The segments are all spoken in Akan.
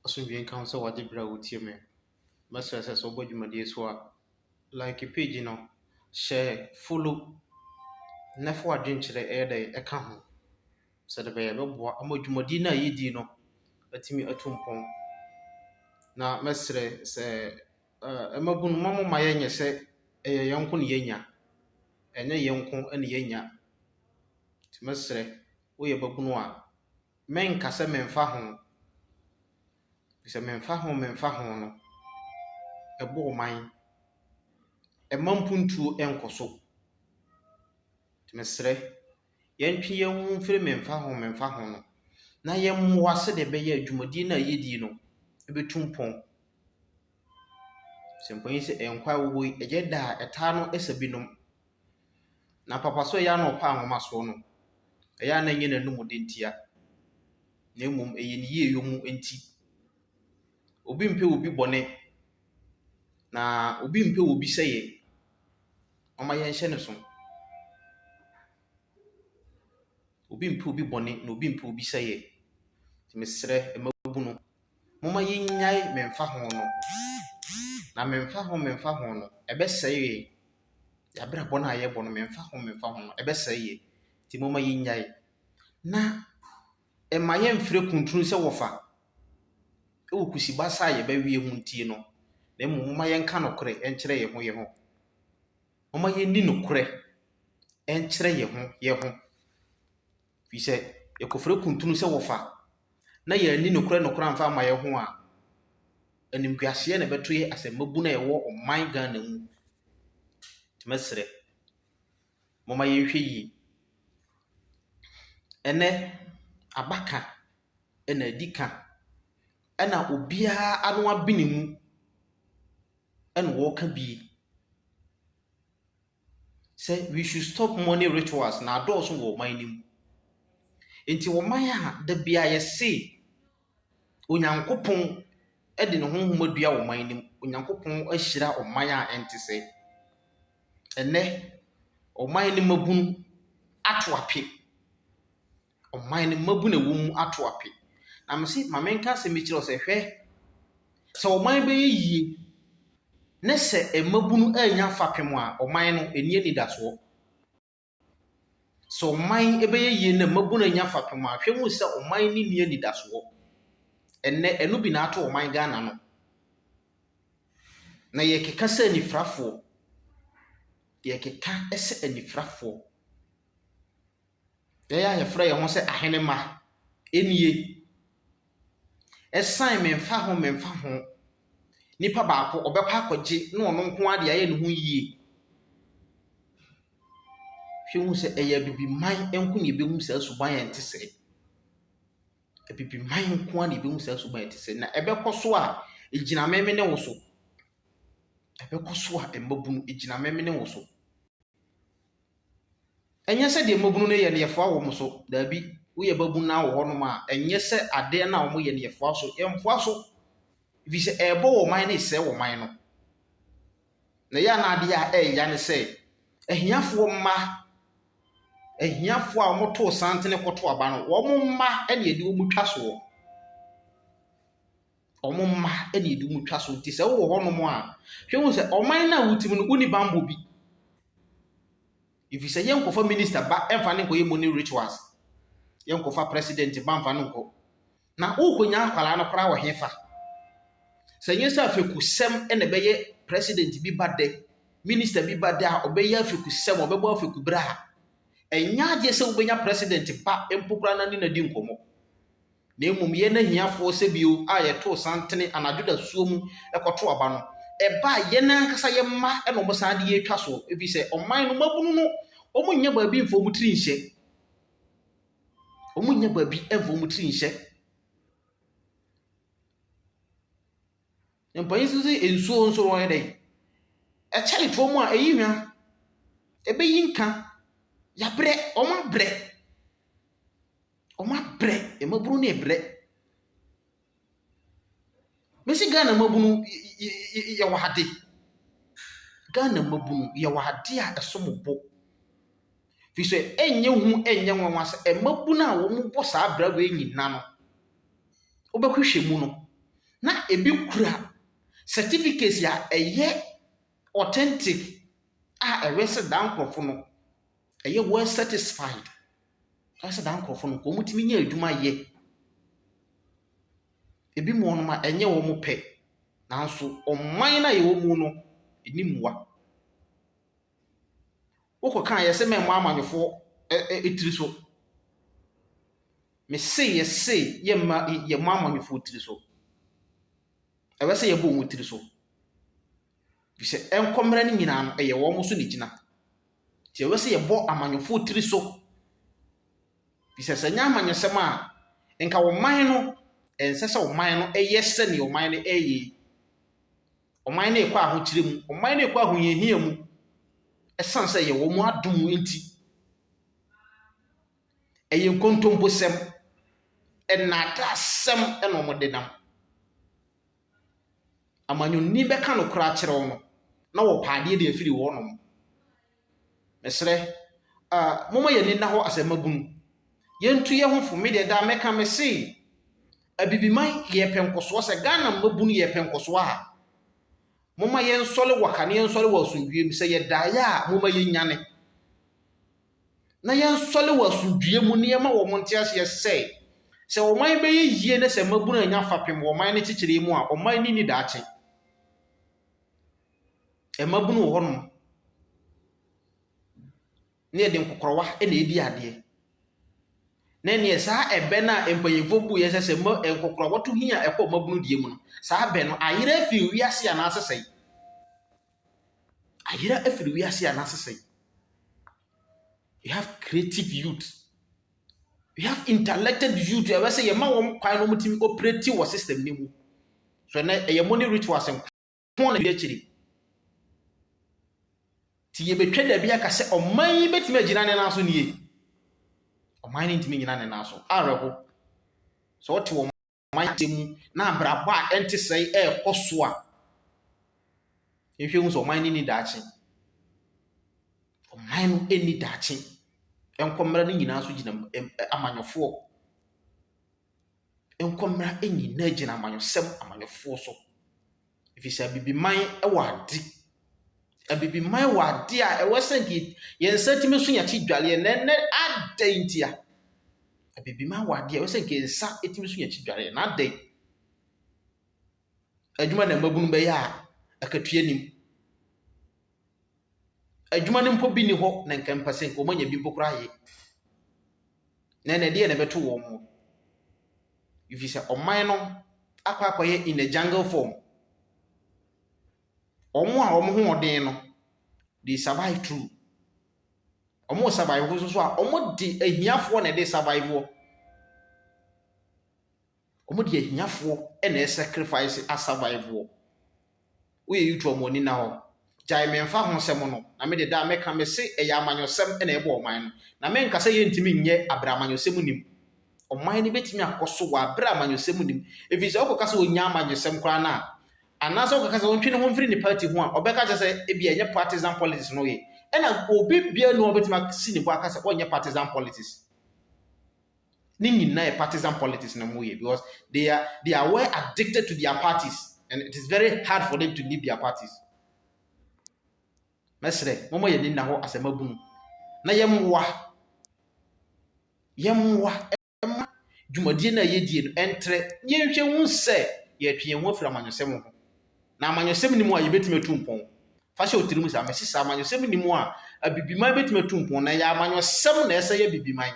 Asomdwee nka wo sɛ wagye berɛ a wotie me. Mɛsrɛ sɛ sɛ wobɔ dwumadie so a, like page no, hyɛ follow na fa w'adwenkyerɛ yɛ dɛ ɛka ho sɛdeɛ ɛbɛyɛ a ɛbɛboa ama dwumadie no a yɛdi no atumi atu mpɔn. Na mɛsrɛ sɛ eh, mmabun, mma mo mma yɛnyɛ sɛ ɛyɛ yɛn nko na yɛnya. Ɛnyɛ yɛn nko na yɛnya. Nti mɛsrɛ, woyɛ babunu a, menka sɛ memfa ho. Sɛ memfa ho memfa ho no, ɛbɔ ɔman. Ɛma mpuntuo nkɔ so. Nti mesrɛ, Yɛntwe yɛn ho mfiri memfa ho memfa ho no, na yɛmmoa sɛdeɛ ɛbɛyɛ a dwumadie no a yɛdie no bɛtu mpɔn. Sɛ mpanin sɛ nkwa a wowɔ yi ɛyɛ da a ɛtaa no sa binom. Na papa so ɛyɛ a na ɔpɛ ahomasoɔ no, ɛyɛ a na ɛnyɛ n'anom de ntia, na mmom ɛyɛ ne yie yɔ mu nti. Obi mpɛ obi bɔne, na obi mpɛ obi sɛeɛ. Momma yɛnhyɛ no so. Obi mpɛ obi bɔne, na obi mpɛ obi sɛeɛ. Nti mesrɛ mmabunu, momma yɛnnyae memfa ho no. Na memfa ho memfa ho no, ɛbɛsɛe yɛn abrabɔ no a yɛrebɔ no, memfa ho memfa ho no, ɛbɛsɛe yɛn. Nti momma yɛnnyae. Na Mma yɛmfrɛ kuntunu sɛ wɔfa wɔ kusibasa a yɛbɛweɛ mu ntie no, na mmom momma yɛnka nokorɛ nkyerɛ yɛn ho yɛn ho. Momma yɛnni nokorɛ nkyerɛ yɛn ho yɛn ho. Firi sɛ yɛkɔfrɛ kuntunu sɛ wɔfa na yɛanni nokorɛ nokorɛ amfa amma yɛn ho a, animguaseɛ na ɛbɛto yɛn asɛmmabunu a ɛwɔ ɔman Ghana mu. Nti mɛsrɛ. Momma yɛnhwɛ yie. Ɛnnɛ, aba ka na adi ka, ɛna obiara ano abene mu na ɔreka bi. Sɛ we should stop money rituals na adɔɔso wɔ ɔman no mu. Nti ɔman a da biara yɛse. Onyankopɔn de ne honhom adua ɔman no mu. Onyankopɔn ahyira ɔman a ɛnte sɛ. Ɛnnɛ, ɔman no mmabunu ato ape. Ɔman no mmabunu a ɛwɔ mu ato ape. Na mese ma menka asɛm bi nkyerɛ wo sɛ, hwɛ, sɛ ɔman bɛyɛ yie ne sɛ mmabunu annya fapem a, ɔman no, ɛnni anidasoɔ. Sɛ ɔman bɛyɛ yie na mmabunu anya fapem a, hwɛ hu sɛ ɔman no nni anidasoɔ. Ɛnnɛ, ɛno bi na ato ɔman Ghana no. Na yɛkeka sɛ anifirafoɔ, yɛkeka sɛ anifirafoɔ. Yɛn a yɛfrɛ yɛn ho sɛ ahenemma nie. Ɛsan memfa ho memfa ho, nipa baako ɔbɛkɔ akɔgye na ɔno nko ara de ayɛ ne ho yie. Hwɛ hu sɛ ɛyɛ Abibiman nko na ɛbɛhu saa suban a ɛte sɛɛ. Abibiman nko ara na ɛbɛhu saa suban a ɛte sɛɛ. Na ɛbɛkɔ so a, ɛgyina me ne wo so. Ɛbɛkɔ so a mmabunu, ɛgyina me ne wo so. Ɛnyɛ sɛ deɛ mmabunu no yɛ no yɛfoa wɔn so, daabi. Woyɛ babunu na wowɔ hɔnom a, ɛnyɛ sɛ adeɛ no a wɔyɛ no yɛfoa so. Yɛmfoa so. Ɛfiri sɛ ɛrebɔ wɔn man na ɛresɛe wɔn man no. Na ɛyɛ a na adeɛ a ɛreya ne sɛ, ahiafoɔ mma, ahiafoɔ a wɔtoo santene kɔto aba no, wɔn mma na ɛde wɔn twa soɔ. Wɔn mma na ɛde wɔn twa soɔ. Nti sɛ wowɔ hɔnom a, hwɛ hu sɛ ɔman no a wote mu no, wonni bammɔ bi. Ɛfiri sɛ yɛnkɔfa minista ba mfa no nkɔyɛ morning rituals. Yɛnkɔfa president ba mfa no nkɔ. Na worekonya akwadaa no koraa wɔ hefa? Sɛ ɛnyɛ sɛ afekusɛm na ɛbɛyɛ president bi ba dɛ, minister bi ba dɛ a ɔbɛyɛ afekusɛm, ɔbɛbɔ afekubere a, ɛnyɛ adeɛ sɛ wobɛnya president ba mpo koraa na ne na di nkɔmmɔ. Na mmom yɛn ahiafoɔ sɛ bio a yɛtoo santene anadwo dasuo mu kɔto aba no, ɛba a yɛn ankasa yɛn mma na wɔn san de yɛtwa soɔ, ɛfiri sɛ ɔman no mmabunu no wɔnyɛ baabi mfa wɔn tiri nhyɛ. Wɔnnya baabi mfa wɔn tiri nhyɛ. Mpanyin nso sɛ nsuo nso wɔyɛ dɛn? Ɛkyɛre toɔ mu a ɛyi hwa. Ɛbɛyi nka. Yɛabrɛ, wɔabrɛ. Wɔabrɛ, mmabunu no rebrɛ. Mese Ghana mmabunu yɛwɔ ade. Ghana mmabunu yɛwɔ ade a ɛsom bo. Ɛfiri sɛ ɛnyɛ hu ɛnyɛ nwanwa sɛ mmabunu a wɔbɔ saa abira wei nyinaa no, wobɛhwehwɛ mu no, na ɛbi kura certificates a ɛyɛ authentic a ɛwɛ sɛ daa nkorɔfoɔ no. ɛyɛ well satisfied. Kyerɛ sɛ daa nkorɔfo no nka wɔtumi nya adwuma yɛ. Ebi mu wɔnom a ɛnyɛ wɔn pɛ, nanso ɔman no a yɛwɔ mu no ɛni mua. Wokɔ ka a yɛse mɛmmɔ amanyɔfoɔ ɛ tiri so. Mese yɛse yɛmma yɛmmɔ amanyɔfoɔ tiri so. Ɛwɛ sɛ yɛbɔ wɔn tiri so. Efisɛ nkɔmmrɛ no nyinaa no ɛyɛ wɔn so na ɛgyina. Nti ɛwɔ sɛ yɛbɔ amanyɔfoɔ tiri so. Ɛfiri sɛ, sɛ ɛnyɛ amanyɔsɛm a, nka ɔman no, ɛnsɛ sɛ ɔman no yɛ sɛdeɛ ɔman no reyɛ yi. Ɔman no rekɔ ahokyerɛ mu. Ɔman no rekɔ ahohiahia mu. Ɛsiane sɛ ɛyɛ wɔn adom nti. Ɛyɛ nkontomposɛm. Nnaadaasɛm na wɔde nam. Amanyɔni bɛka nokorɛ akyerɛ wo no, na wɔpɛ adeɛ de afiri wo hɔ nom. Mesrɛ, ah, momma yɛn ani nna hɔ asɛmmabunu. Yɛntu yɛn ho fo. Me deɛ, daa mɛka, mese, Abibiman yɛ pɛ nkɔsoɔ sɛ Ghana mmabunu yɛ pɛ nkɔsoɔ ha. Momma yɛnsɔre waka na yɛnsɔre wɔ asomdwoeɛ mu. Sɛ yɛdaeɛ a, momma yɛnyane. na yɛnsɔle wɔ asomdwoeɛ mu na yɛma wɔn nte aseɛ sɛ, sɛ ɔman bɛyɛ yie na sɛ mmabunu anya fapem wɔ ɔman no kyekyeree mu a, ɔman no nni daakye. Mmabunu wɔ hɔnom na yɛde nkɔkɔrɔwa na ɛredi adeɛ. Na ɛneɛ saa ɛbɛ no a mpanyinfoɔ buu yɛ sɛ sɛ mma nkɔkɔrɔwa to hia ɛkɔ mmabunu deɛ mu no, saa bɛ no ayera afiri wiase anaasɛ sɛn? Ayera afiri wiase a n'asesa yi. We have creative youth. We have intellected youth a wɔsɛ yɛma wɔn kwan na wɔtumi operate wɔ system no mu. So ɛnɛ ɛyɛ mo ne rituals nko na ɛdi akyiri. Ti yɛbɛtwa dabi aka sɛ ɔman yi bɛtumi agyina ne nan so nie. Ɔman no ntumi nyina ne nan so. Awerɛho. Sɛ ɔte wɔn ɔmantam mu na abrabɔ a ɛnte sɛɛ ɛrekɔ so a, yɛnhwɛ hu sɛ ɔman no nni daakye. Ɔman no nni daakye. Nkɔmmra no nyinaa nso gyina amanyɔfoɔ. Nkɔmmra nyinaa gyina amanyɔsɛm, amanyɔfoɔ so. Ɛfiri sɛ Abibiman wɔ ade. Abibiman wɔ ade a ɛwɔ sɛ nka yɛn nsa tumi so yɛn ti dware. Na ɛnnɛ adɛn ntia? Abibiman wɔ ade a ɛwɔ sɛ nka yɛn nsa tumi so yɛn ti dware. Na adɛn? Adwuma na mmabunu bɛyɛ a akatua nim. Adwuma no mpo bi nni hɔ na nka mepɛ sɛ nka wɔanya bi mpo koraa yɛ. Na ɛnna ɛdeɛn na ɛbɛto wɔn wɔ? Ɛfiri sɛ ɔman no akɔ akɔyɛ in a jungle form. Wɔn a wɔn ho ɔden no, they survive through. Wɔn survive nso so a, wɔde ahiafoɔ na ɛde survive wɔ. Wɔde ahiafoɔ na ɛsacrifice a survive wɔ. Woyɛ you to wɔn ani nna hɔ. Gyae me mfa ho sɛm no na me de daa mɛka mese ɛyɛ amanyɔsɛm na ɛbɔ ɔman no. Na me nka sɛ yɛntumi nyɛ abrɛ amanyɔsɛm nnim. Ɔman no bɛtumi akɔ so wɔ abrɛ amanyɔsɛm nnim. Ɛfiri sɛ wokɔka sɛ ɔnya amanyɔsɛm koraa no a anaasɛ wokɔka sɛ ɔntwe ne ho mfiri ne party ho a ɔbɛka kyɛ sɛ ebi ɛnyɛ partisan politics na ɔyɛ. Ɛna obi bia no a ɔbɛtumi asi ne bo aka sɛ ɔnyɛ partisan politics. Ne nyinaa yɛ partisan politics na wɔyɛ because they are they are well addicted to their parties and it is very hard for them to leave their parties. Mɛsrɛ mɔmɔ yɛ ne nna hɔ asɛm abunu na yɛmmoa yɛmmoa ɛma dwumadie no a yɛdie no ɛntrɛ yɛnhwɛ hu sɛ yɛtwe yɛn ho afiri amanyɔsɛm ho. Na amanyɔsɛm nni mu a yɛbɛtumi atu mpɔn. Fa hyɛ wo tirim saa, mese saa, amanyɔsɛm nni mu a Abibiman bɛtumi atu mpɔn. Na ɛyɛ amanyɔsɛm na ɛsɛ yɛ Abibiman.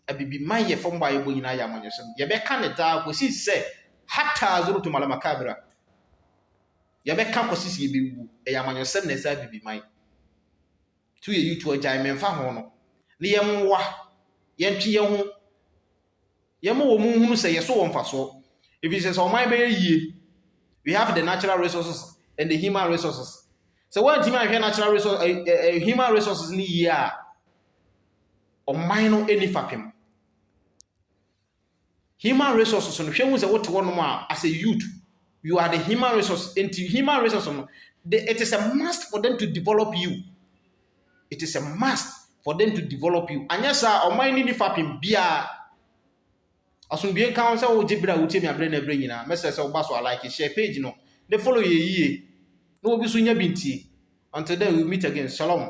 Abibiman yɛ fam bɔ a yɛbɔ nyinaa yɛ amanyɔsɛm. Yɛbɛka ne daa kɔsi sɛ hataa zurutum alamakabira. Yɛbɛka kɔsi sɛ yɛbɛwu. Ɛyɛ amanyɔsɛm na ɛsɛ Abibiman. Tu yɛ YouTube agyae memfa ho no. Ne yɛn mmoa, yɛntwe yɛn ho Yɛma wɔn hunu sɛ yɛso wɔ mfasoɔ. Ɛfiri sɛ sɛ ɔman bɛyɛ yie, we have the natural resources and the human resources. Sɛ woantumi anhwɛ natural resource, uh, uh, human resources ne yie a, ɔman no ɛni fapem. Human resources no hwɛ hu sɛ wote hɔnom a as a youth, you are the human resource. Nti human resources no, it is a must for them to develop you. It is a must for them to develop you. Anyɛ saa ɔman no ni fapem biara. Asomdue nka ho sɛ wogye berɛ a wotie me aberɛ na aberɛ nyinaa. Mɛsrɛ sɛ woba so a like share page no ne follow yɛ yie na obi so nya bi ntie. Until then we will meet again. Shalom.